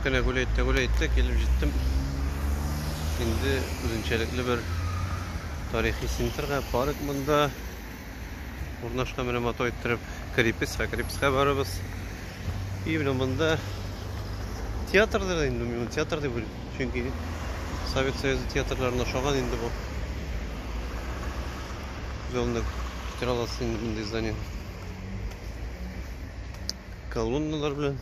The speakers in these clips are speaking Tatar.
Кенә гүләйтте, гүләйтте, килеп җиттем. Инде үзенчәлекле бер тарихи центрга, парк монда урнашкан менә мото иттереп крепецка крепецка барыбыз и менә монда театрдыр инде мин театр дип уйлыйм чөнки совет союзы театрларына ошаган инде бу галны китерә аласыз инде мондый здание колонналар белән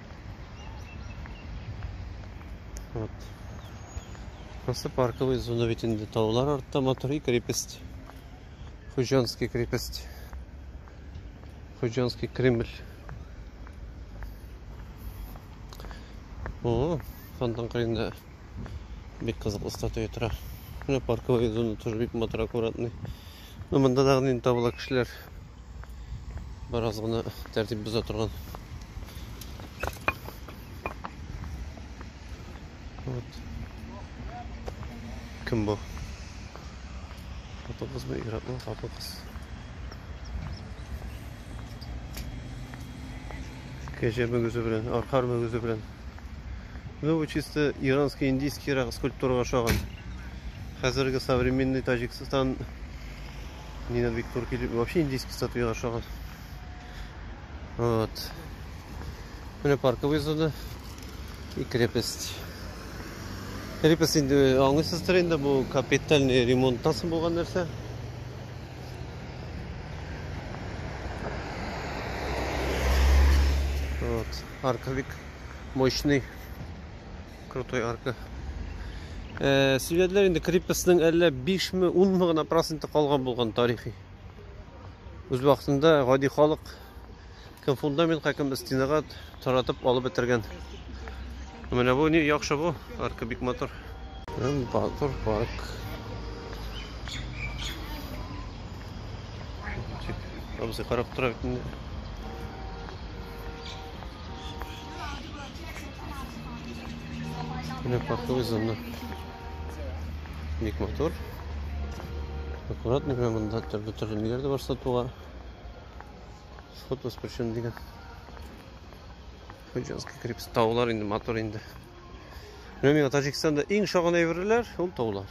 Вот. Просто парковый зона ведь инде таулар артта матур и крепость. Хуҗанский крепость. Хуҗанский Кремль. О, фонтан кырында бик кызыклы статуя тора. Менә парковый зона тоже бик матур аккуратный. Но монда дагы нинди табыла кешеләр. Бераз гына тәртип боза торган. Вот. Кем бу? Хатын кызмы, иратмы, хатын кыз. Кәҗә мөгезе белән, аркар мөгезе белән. Ну, бу чисто иранский, индийский рак скульптурага ошаган. Хәзерге современный Таҗикстан Нина бик турки любит. Вообще индийский статуя ашаган. Вот. Менә парковый зона и крепость. Крепость инде э, аңлыйсыздыр инде бу капитальный ремонттан соң булган нәрсә. Вот. Арка бик мощный. Крутой арка. Э, Сөйләделәр инде крепостның әллә 5 ме, 10 ме гына проценты калган булган тарихи. Үз вакытында гади халык кем фундаментка, кем стенага таратып алып бетергән. Менә бу ни яхшы бу, арка бик матур. Батыр парк. Абзый карап тора бит инде. Менә парковый зона. Бик матур. Аккуратно менә монда төрле төрле ниләр дә бар сатуга. Сход воспрещен дигән. Хуҗанский крепость. Таулар инде матур инде. Менә миңа Таҗикстанда иң шагын әйберләр ул таулар.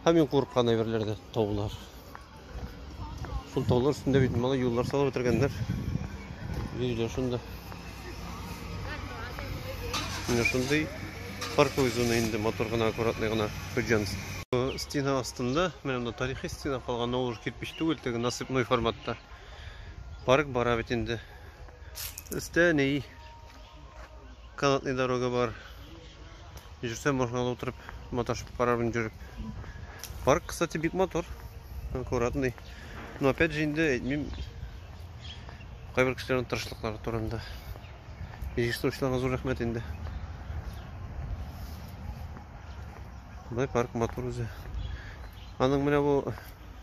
Һәм иң курыккан әйберләр дә таулар. Шул таулар өстендә бит малай юллар салып бетергәннәр. Йөриләр шунда. Менә шундый парковый зона инде мотор гына, аккуратный гына Хуҗанс. Стена астында, менә монда тарихи стена калган, ул кирпич түгел, теге насыпной форматта. Парк бара бит инде. Өстә ни Канатный дорога бар. Жүрсә машинада утырып, маташып карармын жүреп. Парк, кстати, бик мотор. Аккуратный. Но опять же инде әйтмим. Кайбер кешеләрнең тырышлыклары турында. Җыештыручыларга зур рәхмәт инде. Бай парк мотор үзе. Аның менә бу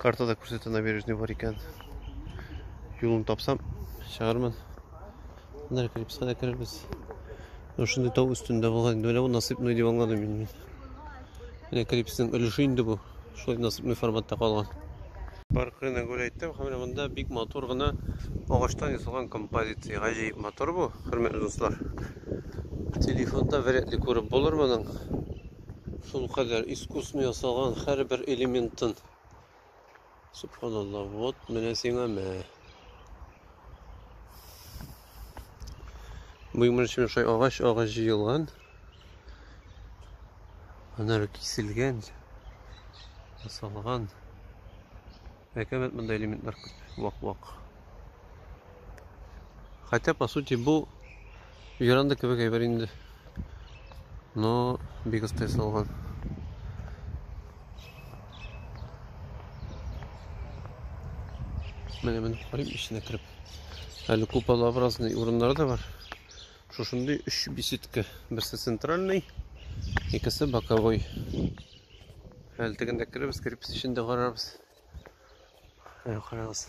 Картада күрсәтә набережный бар икән. Юлын тапсам, чыгармын. Менә клипска да керербез. Ну шундый тау өстендә булган инде. Менә бу насыпный дип аңладым мин. Менә клипсның өлеше инде бу. Шулай насыпный форматта калган. Бар кырына гүр әйттем. Менә монда бик матур гына агачтан ясалган композиция. Гаҗәеп матур бу, хөрмәтле дуслар. Телефонда вряд ли күреп булыр моның. Шул кадәр искусный ясалган һәрбер элементын. Субханалла, вот менә сиңа мә. Буймырчы шай агач, агач җыелган. Анар киселгән, ясалган. Әкәмәт монда элементлар күп, вак-вак. Хотя, по сути, бу Юранды кебек әйбер инде. Но бик оста ясалган. Менә менеп карыйм эченә кереп. Әле куполообразный урыннары да бар. Шушындый өч беседка. Берсе центральный, икесе боковой. Әле тегендә керебез, керебез эчендә карарбыз. Карагыз.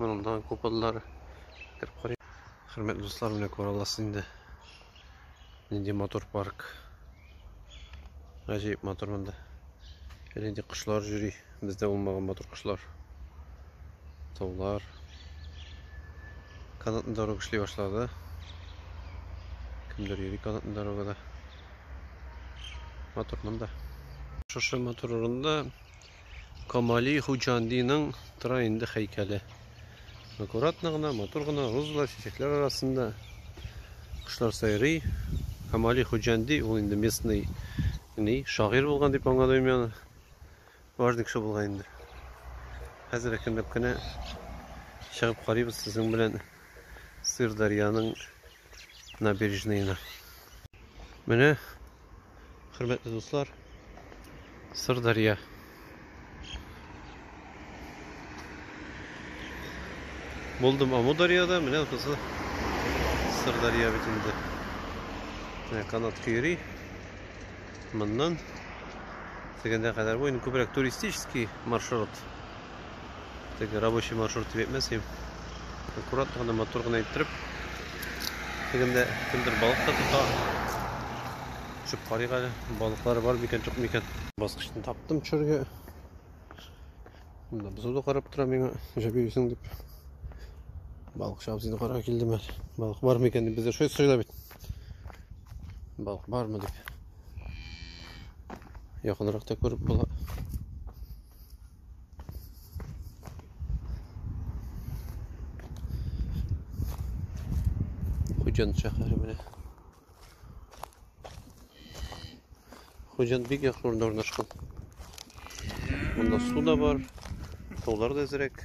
Моның да купаллары. Хөрмәтле дуслар, менә күрә аласыз инде. Нинди мотор парк. Гаҗәеп мотор монда. Әле кошлар йөри. Бездә булмаган мотор кошлар. Таулар. Канатны дорога эшли башлады. Кемдер йөри канатны дорогада. Мотор монда. Шушы мотор урында Камали Хуҗандиның тора инде хәйкәле. Аккуратно гына, матур гына розалар, чәчәкләр арасында кошлар сайрый. Камали Хуҗанди ул инде местный ни, шагыйрь булган дип аңладым мин. Важный кеше булган инде. Хәзер әкренләп кенә чыгып карыйбыз сезнең белән Сырдарьяның набережныена. Менә, хөрмәтле дуслар, Сырдарья. Булдым Амударьяда, менә кызы Сырдарья бит инде. Менә канат көйри. Моннан тегендә кадәр бу инде күбрәк туристический маршрут. Теге рабочий маршрут дип әйтмәсем. Аккуратно гына, матур гына иттереп. Тегендә кемдер балык та тота. Төшеп карыйк әле. Балыклары бар микән, юк микән? Баскычны таптым төшәргә. Монда бозу да карап тора миңа, җәп йөрисең дип. Балыкчы абзыйны карарга килдем әле. Балык бар микән дип бездә шөй сыйла бит. Балык бармы дип. Якынрак та күреп була. Хуҗан шәһәре менә. Хуҗан бик яхшы урында урнашкан. Монда су да бар, таулар да әзрәк.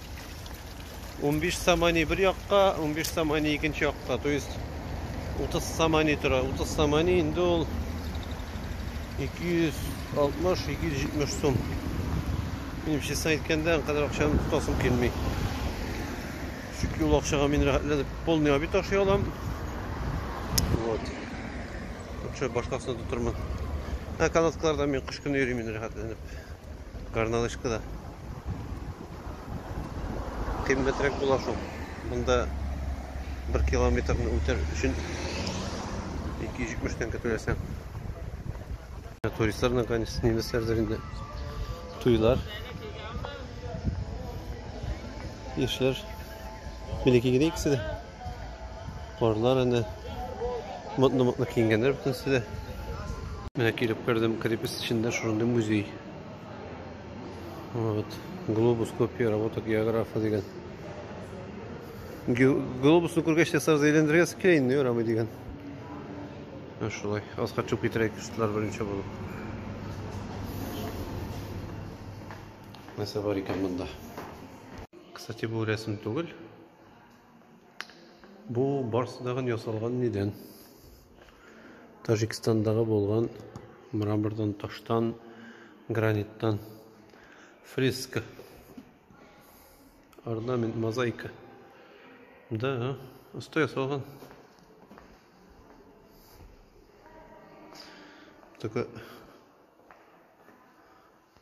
15 самани бер якка, 15 самани икенче якка. То есть 30 самани тора. 30 самани инде ул 260-270 сум. Минем честно әйткәндә, кадәр акчаны тотасым килми. Чөнки ул акчага мин рәхәтләнеп полный обед ашый алам. Вот. Лучше башкасына тотырмын. Ә канаткаларда мин кыш көне йөрим инде рәхәтләнеп. Горнолыжкада. Кыйммәтрәк була шул. Монда 1 километрны үтәр өчен 270 тәңкә түләсәң. Туристлар наконец немецләрдер инде. Туйлар. Яшьләр. Милеки генә икесе дә. Парлар әнә. Модно-модно киенгәннәр бөтенесе дә. Менә килеп кердем, крепость эчендә шундый музей. Вот. Глобус копия работа географа деген. Глобусны күргәч тә сразу әйләндергә килә инде ярамый дигән. Шулай. Аска төшеп китерәйек кышлар беренче булып. Нәрсә бар икән монда? Кстати, бу рәсем түгел. Бу барсы тагын ясалган нидән? Таҗикстандагы булган мрамордан, таштан, граниттан. Фреска. Орнамент, мозаика. Да, оста ясалган. Только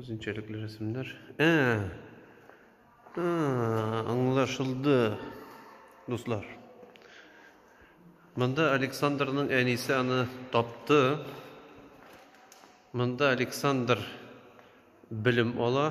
Үзенчәлекле рәсемнәр. Ә! А, аңлашылды, дуслар. Монда Александрның әнисе аны тапты. Монда Александр белем ала.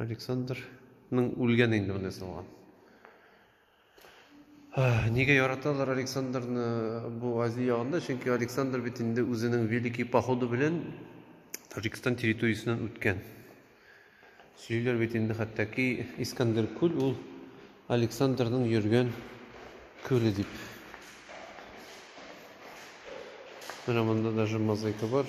Александрның үлгән инде менә салган. Нигә яраталар Александрны бу Азия ягында? Чөнки Александр бит инде үзенең великий походы белән Таҗикстан территориясеннән үткән. Сөйлиләр бит инде хәтта-ки Искандер күл ул Александрның йөргән күле дип. Менә монда даже мозаика бар.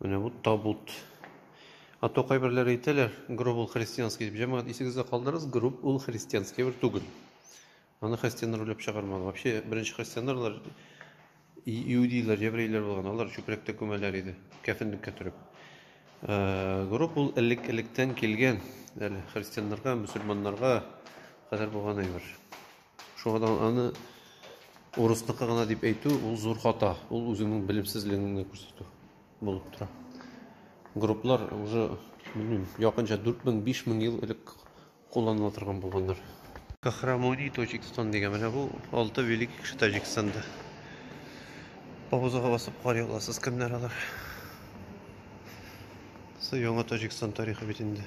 Менә бу табут. А то кайберләр әйтәләр, гроб ул христианский дип. Җәмәгать исегездә калдырыгыз, гроб ул христианский бер түгел. Аны христианнар уйлап чыгармады. Вообще беренче христианнарлар иудейлар, еврейлар булган, алар чүпрәктә күмәләр иде, кәфенлеккә төреп. Э, гроб ул элек-электән килгән, әле христианнарга, мусульманнарга кадәр булган әйбер. Шуңадан аны урысныкы гына дип әйтү ул зур хата. Ул үзеңнең белемсезлегеңне генә күрсәтү булып тора. Групплар уже, белмим, якынча 4000-5000 ел элек кулланыла торган булганнар. Кахрамони Таҗикстан дигән менә бу алты великий кеше Таҗикстанда. Паузага басып карый аласыз, кемнәр алар. Су яңа Таҗикстан тарихы бит инде.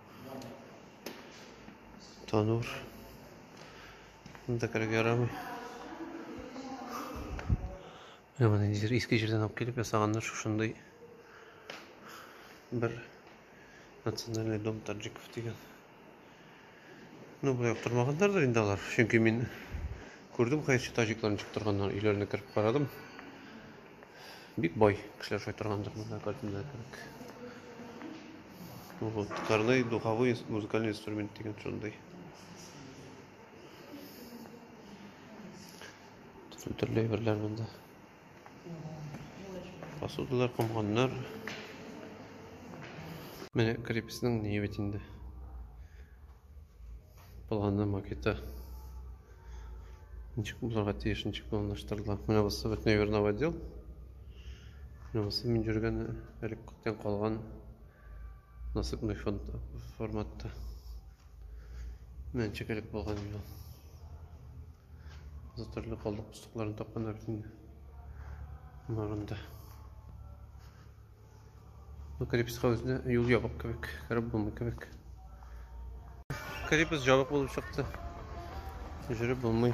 Танур. Монда керергә ярамый. Менә моны ниндидер иске җирдән алып килеп ясаганнар шушындый бер национальный дом таджиков дигән. Ну, болай яптырмаганнардыр инде алар. Чөнки мин күрдем, хәерче таҗикларны чыктырганнар, өйләренә кереп карадым. Бик бай кешеләр шулай торгандыр монда картинада кебек. Вот, Корней духовой музыкальный инструмент дигән шундый. Төрле төрле әйберләр монда. Посудалар, комганнар. Менә крепостьның нигә бит инде. Планы, макеты. Ничек булырга тиеш, ничек планлаштырыла. Менә бусы бөтенләй вернов отдел. Менә бусы мин йөргән элек күптән калган насыпный фонд форматта. Менә ничек элек булган инде ул. За төрле калдык пустокларын тапканнар бит инде. Барында. Ну, крепостька үзенә юл ябык кебек, кереп булмый кебек. Крепость ябык булып чыкты. Жүреп булмый.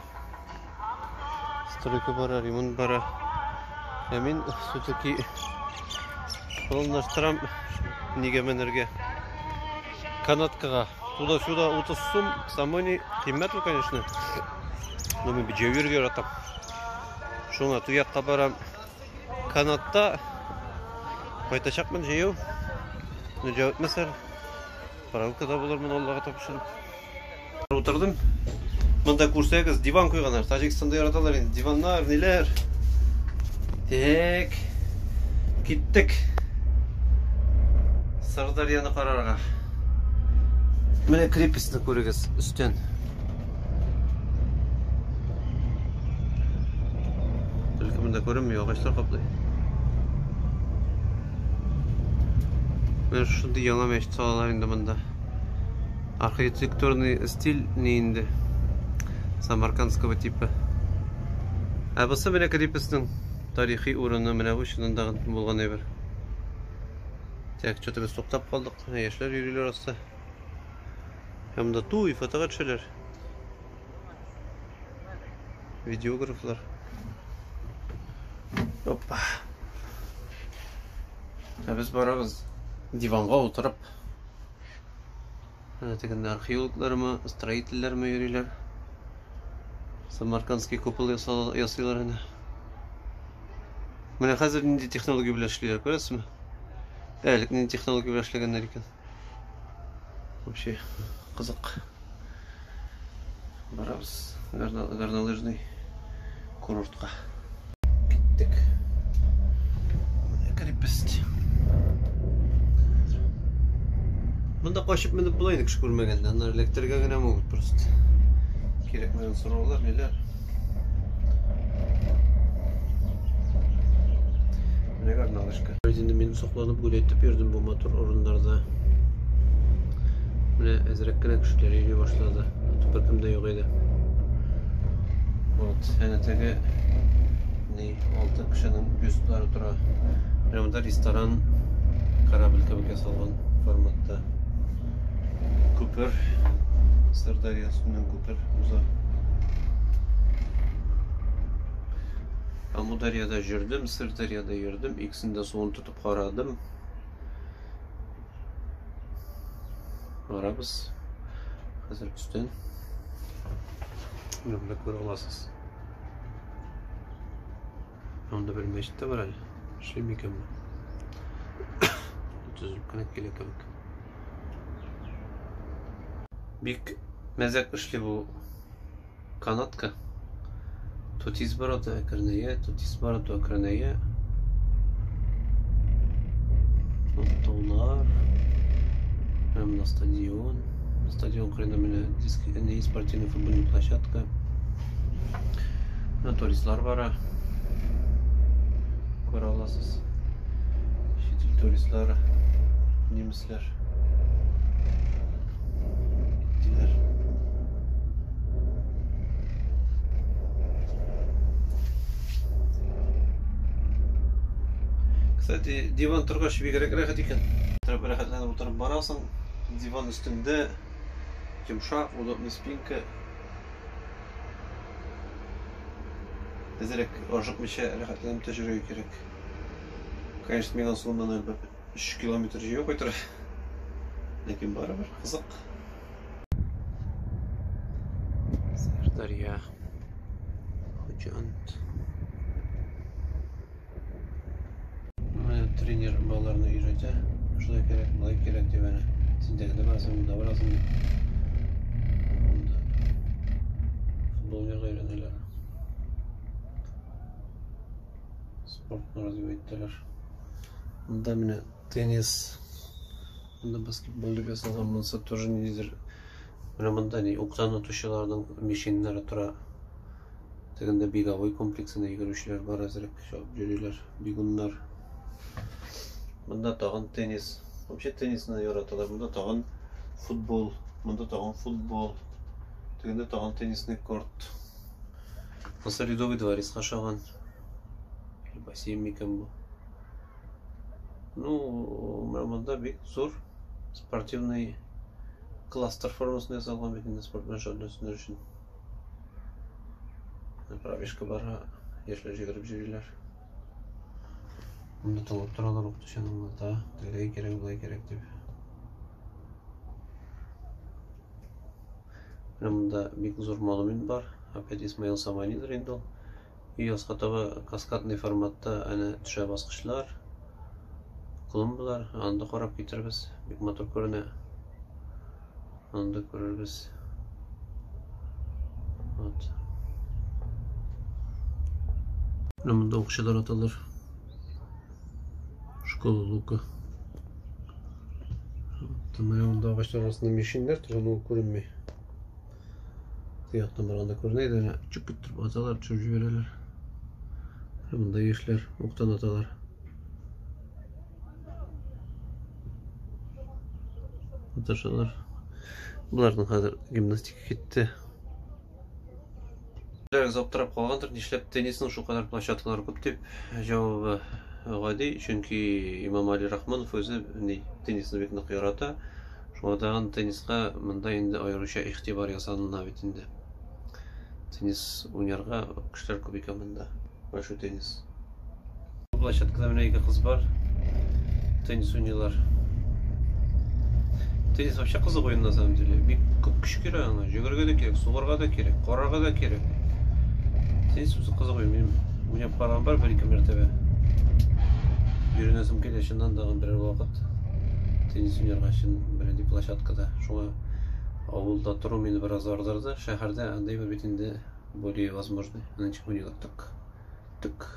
Стройка бара, ремонт бара. Ә мин все-таки планлаштырам нигә менергә. Канаткага. Туда-сюда 30 сум, самой не кыйммәт ул, конечно. Но мин бит җәйгә яратам. Шуңа туякка барам. канатта кайтачакмын җыю. Нәҗә үтмәсәр, паралкада булырмын Аллага тапшырып. Утырдым. Монда күрсәгез, диван куйганнар. Таҗикстанда яраталар инде диваннар, ниләр. Так. Киттек. Сырдарьяны карарга. Менә крепостьны күрегез өстен. Бәлки монда күренмей, агачлар каплый. Менә шундый яңа мәчет салалар инде монда. Архитектурный стиль не инде. Самаркандского типа. Ә бусы менә крепостның тарихи урыны менә бу чынында булган әйбер. Так, что-то без туктап калдык. Яшьләр йөриләр аста. Һәм дә туй, фотога төшәләр. Видеографлар. Опа. Ә без барабыз диванга утырып. Әнә тегендә археологлармы, строительләрме йөриләр. Самаркандский купол ясыйлар әнә. Менә хәзер нинди технология белән эшлиләр, күрәсезме? Әлек нинди технология белән эшләгәннәр икән. Вообще кызык. Барабыз горнолыжный курортка. Киттек. Менә крепость. Монда качып менеп була инде кеше күрмәгәндә. Аннары эләктерергә генә могут просто. Кирәкмәгән сораулар, ниләр. Менә горналышка. Инде мин сокланып гүләйтеп йөрдем бу матур урыннарда. Менә әзрәк кенә кешеләр йөри башлады. Беркем дә юк иде. Вот, әнә теге ни, алты кешенең бюстлары тора. Менә монда ресторан корабль кебек ясалган форматта. Күпер, Сырдарья өстеннән күпер. Уза. Амударьяда жүрдем, Сырдарьяда йөрдем, икесендә суын тотып карадым. Барабыз. Хәзер өстән. Менә күрә аласыз. Анда бер мәчет тә бар әле. Эшли микән бу? Төзелеп кенә килә кебек. Бик мәзәк эшли бу канатка. Тут изборота әкренәя, тут изборота әкренәя. Таулар. Прямо на стадион. Стадион кырында менә диск, не спортивный футбольный площадка. Менә туристлар бара. Күрә аласыз. Чит ил туристлары, немецләр. Киттеләр. Кстати, диван торгач бигрәк рәхәт икән. Торып рәхәтләнеп утырып барасың. Диван өстендә йомшак, удобный спинка. Әзрәк ашыкмыйча рәхәтләнеп тә йөрергә кирәк. Конечно, мин асылым моннан әлбәт 3 километр җәяү кайтыр. Ләкин барыбер кызык. Сәрдарья. Хуҗант. тренер балаларны өйрәтә шулай кирәк болай кирәк дип әнә сендәгедә барасың монда барасың дип анда футбол уйнарга өйрәнәләр спортны разве иттеләр монда менә теннис монда баскетбол дип язылган монысы тоже ниндидер менә монда ни уктан отучыларның мишиннары тора Тегендә беговой комплексына йөгерүчеләр бар әзрәк чабып йөриләр, бегуннар. Монда тагын теннис. Вообще теннисны яраталар. Монда тагын футбол, монда тагын футбол. Тегендә тагын теннисный корт. Мисыр Ледовый дворецка ошаган. Бассейн микән бу? Ну, менә монда бик зур спортивный кластер формасында ясалган бит инде спорт белән шөгыльләнүчеләр өчен. Пробежка бара, яшьләр җигереп җөриләр. Монда талап торалар укытучының да, тегеләй кирәк, болай кирәк дип. Менә монда бик зур монумент бар. Опять Исмаил Саманидер инде ул. Өй аска таба каскадный форматта әнә төшә баскычлар, клумбалар. Аны да карап китербез. Бик матур күренә. Аны да күрербез. Вот. Менә монда укчылар аталар. Школа лука. Вот. Менә монда агачлар арасында мишеннәр торган ул күренми. Ояттан барганда күренә иде, менә чүп иттереп аталар, төшереп җибәрәләр. Монда яшьләр уктан аталар. Аташалар. Боларның хәзер гимнастика китте. Берәрегез аптырап калгандыр, нишләп теннисның шулкадәр плащ аталары күп дип. Җавабы гади, чөнки Имам Али Рахманов үзе теннисны бик нык ярата. Шуңа тагын тенниска монда инде аеруча игътибар ясалына бит инде. Теннис уйнарга кешеләр күп икән монда. Большой теннис. Площадкада менә ике кыз бар. Теннис уйныйлар. Теннис вообще кызык уен на самом деле. Бик күп көч кирәк аңа. Йөгерергә дә кирәк, сугарга да кирәк, карарга да кирәк. Теннис үзе кызык уен. Мин уйнап караган бар бер-ике мәртәбә. Йөренәсем килә чыннан да берәр вакыт. Теннис уйнарга өчен бернинди площадка да. Шуңа авылда тору мине бераз ардырды. Шәһәрдә андый бер бит инде более возможный. Нынче хуйнилар тык. Тык.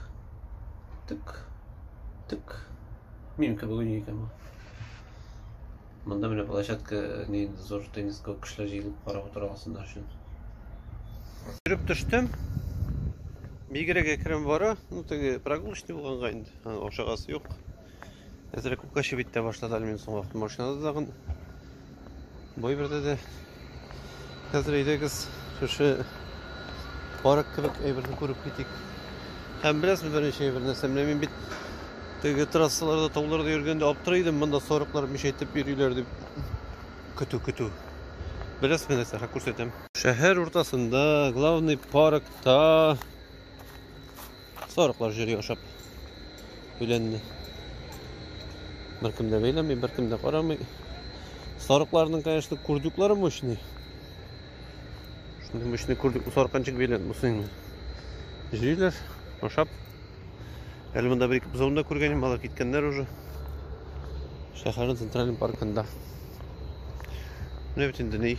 Тык. Тык. Мин кебек уйный икән бу. Монда менә площадка не зур теннис күп кешеләр җыелып карап утыра алсыннар өчен. Йөреп төштем. Бигрәк әкрен бара. Ну, теге прогулочный булганга инде. Ашагасы юк. Әзрәк күккә чебит тә башлады әле мин соңгы вакыт машинада тагын. Бу бердә дә хәзер әйдәгез шушы парк кебек әйберне күреп китик. Һәм беләсез беренче әйбер нәрсә, менә мин бит теге трассаларда, тауларда йөргәндә аптырый идем, монда сарыклар мишәйтеп йөриләр дип. Көтү, көтү. Беләсез менә нәрсә, күрсәтәм. Шәһәр уртасында, главный паркта Сарыклар җөри ашап. Үләнне. Беркем дә бәйләми, беркем дә карамый. Сарыкларның, конечно, курдюклары мощный. Шундый мощный курдюк сарканчык белән мусыйны. Җөйләр, ашап. Әле монда бер-ике бозауны да күргәнем, алар киткәннәр уже. Шәһәрнең центральный паркында. Менә бит инде ни.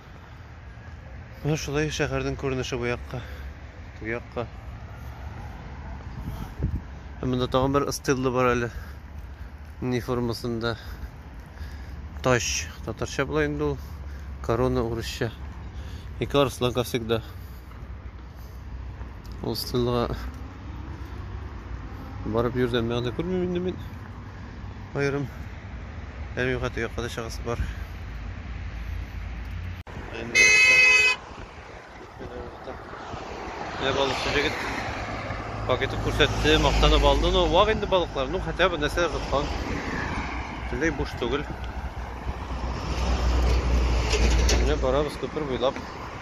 Менә шулай шәһәрнең күренеше бу якка, теге якка. Ә монда тагын бер ыстырлы бар әле. Ни формасында? Тач. Татарча була инде ул. Корона урысча. Ике арыслан, как всегда. Ул стендга барып йөрдән мәгънә күрмим инде мин. Аерым әлеге хәтигә кадәр чагасы бар. Менә балыкчы җегет пакетик күрсәтте, мактанып алды. Ну, вак инде балыклар. Ну, хотя бы нәрсә тоткан. Бөтенләй буш түгел. Менә барабыз күпер буйлап.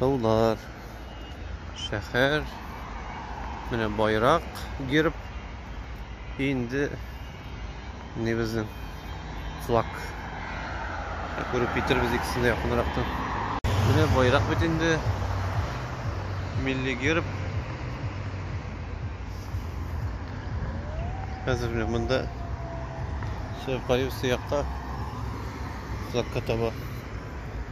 Таулар. Шәһәр. Менә байрак, герб. Инде не безнең флаг. Күреп китербез икесен дә якынрактан. Менә байрак бит инде. Милли герб. Хәзер менә монда Сәүкаев сыякка флагка таба.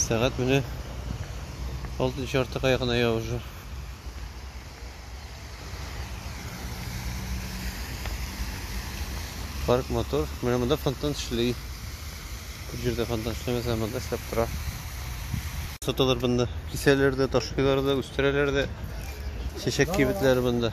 Сәгать менә 6 чартыга якына я уже. Парк мотор. Менә монда фонтан эшли. Күп җирдә фонтан эшләмәсә, монда эшләп тора. Саталар монда. Кисәләр дә, ташлыйлар да, үстерәләр дә. Чәчәк кибетләре монда.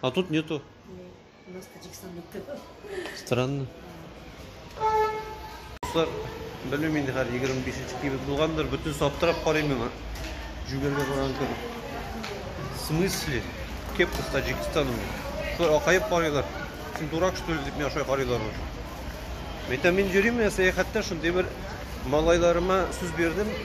А тут нету. У нас Таджикстанда тыгы. Странно. Дуслар, белмим инде хәзер 25 нче кибет булгандыр, бөтен саптырап карыйм миңа. Жүгергә барган кебек. В смысле? Кепка с Таджикстаном. Шулай акаеп карыйлар. Син дурак что ли дип миңа шулай карыйлар. Әйтәм, мин йөрим, сәяхәттә шундый бер малайларыма сүз бирдем.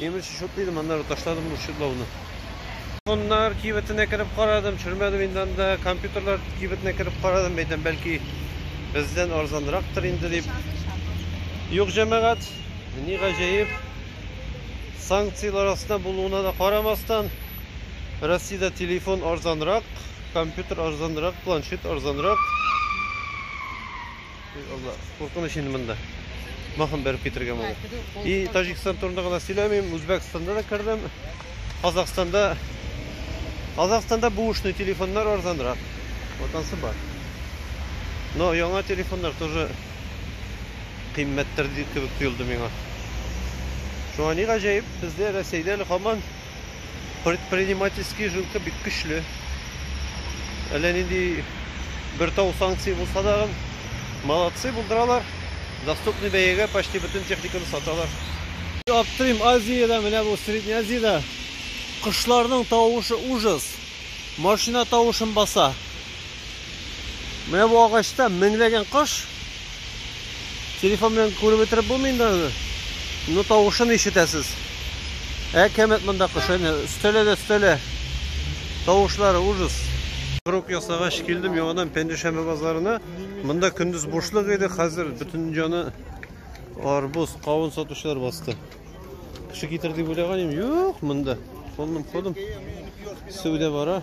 Имеш, шут дидем, аннары ташладым ул чудлауны. Телефоннар кибетенә кереп карадым, төшермәдем инде анда. Компьютерлар кибетенә кереп карадым, әйтәм, бәлки бездән арзанрактыр инде дип. Юк, җәмәгать, ни гаҗәеп, санкцияләр астында булуына да карамастан, Россиядә телефон арзанрак, компьютер арзанрак, планшет арзанрак. Ой, Алла, куркыныч инде монда. Махын бәреп китерергә моны. И Таҗикстан турында гына сөйләмим, Үзбәкстанда да кердем. Казахстанда Казахстанда бушный телефоннар арзанрак. Вот ансы бар. Но яңа телефоннар тоже кыйммәттер кебек тоелды миңа. Шуңа ни гаҗәеп, бездә Рәсәйдә әле һаман Предпринимательский жилка бик көчле. Әллә нинди бер тау санкция булса да, молодцы булдыралар. Доступный бәягә почти бөтен техниканы саталар. Аптырыйм, Азиядә, менә бу Средний Азиядә кошларның тавышы ужас. Машина тавышын баса. Менә бу агачта меңләгән кош, Телефон белән күреп бетереп булмый инде аны. Ну тавышын ишетәсез. Ә кәмәт монда кош әнә өстәлә дә өстәлә. Тавышлары ужас. Круг ясагач килдем яңадан Пәнҗешәмбе базарына. Монда көндез бушлык иде, хәзер бөтен җаны арбуз, кавын сатучылар басты. Кеше китер дип уйлаган идем, юк монда. Ходым, ходым. Сәүдә бара.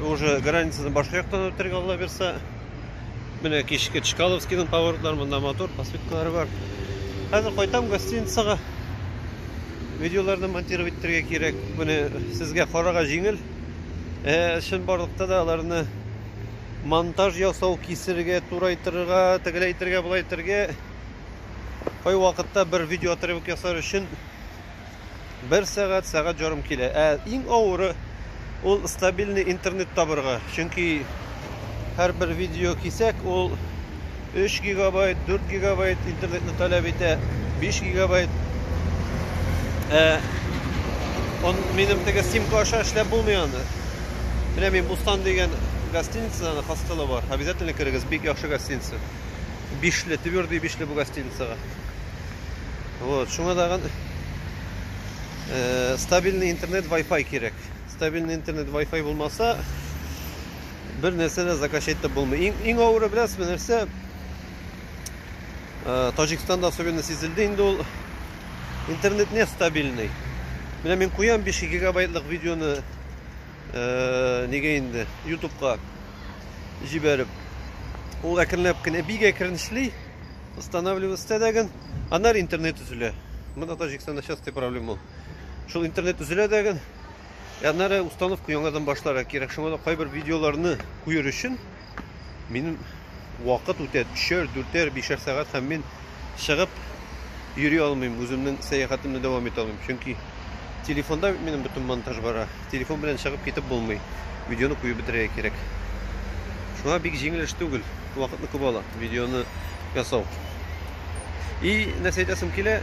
Уже границаны башка яктан үтәргә алла бирса. Менә кичке Чкаловскийның поворотлары, монда мотор, посветкалары бар. Хәзер кайтам гостиницага. Видеоларны монтировать итәргә кирәк. Моны сезгә карага җиңел. Э, чын барлыкта да аларны монтаж ясау, кисергә, турайтырга, тегелә итергә, булай итергә. Кай вакытта бер видеоотрывок ясар өчен Бер сәгать, сәгать җарым килә. Ә иң авыры ул стабильный интернет табырга. Чөнки һәрбер видео кисәк ул 3 гигабайт, 4 гигабайт интернетны таләп итә, 5 гигабайт. Ә он минем теге симка аша эшләп булмый аны. Менә мин Бустан дигән гостиницадан хостелы бар. Обязательно керегез, бик яхшы гостиница. Бишле, твердый бишле бу гостиницага. Вот, шуңа тагын э, стабильный интернет Wi-Fi кирәк. Стабильный интернет Wi-Fi булмаса, бер нәрсә дә заказ итеп булмый. Иң, иң авыры беләсезме нәрсә? Э, Таҗикстанда особенно сизелде инде ул интернет не стабильный. Менә мин куям 5 гигабайтлык видеоны э, нигә инде YouTube-ка җибәреп. Ул әкренләп кенә бик әкрен эшли. Останавливать итә дәген. Аннары интернет үзелә. Монда Таҗикстанда частый проблема ул. Шул интернет үзелә дәген. Аннары установка яңадан башларга кирәк. Шуңа да кайбер видеоларны куер өчен минем вакыт үтә 3-р, 4-р, 5-р сәгать һәм мин чыгып йөри алмыйм. Үземнең сәяхәтемне дәвам итә алмыйм. Чөнки телефонда минем бөтен монтаж бара. Телефон белән чыгып китеп булмый. Видеоны куеп бетерергә кирәк. Шуңа бик җиңел эш түгел. Вакытны күп ала видеоны ясау. И нәрсә әйтәсем килә?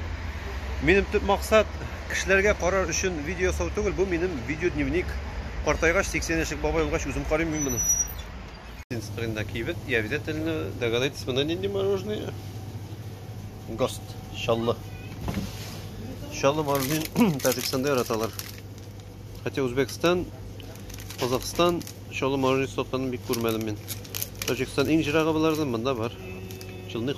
Минем төп максат кешеләргә карар өчен видео ясау түгел, бу минем видео дневник. Картайгач 80 яшек бабай булгач үзем карыйм мин моны. Инстаграмда кибет, я обязательно догадайтесь, монда нинди мороженое? Гост, чаллы. Чаллы мороженое Таҗикстанда яраталар. Хотя Узбекстан, Казахстан чаллы мороженое сатканын бик күрмәдем мин. Таҗикстан иң җирагы болардан, монда бар. Чылны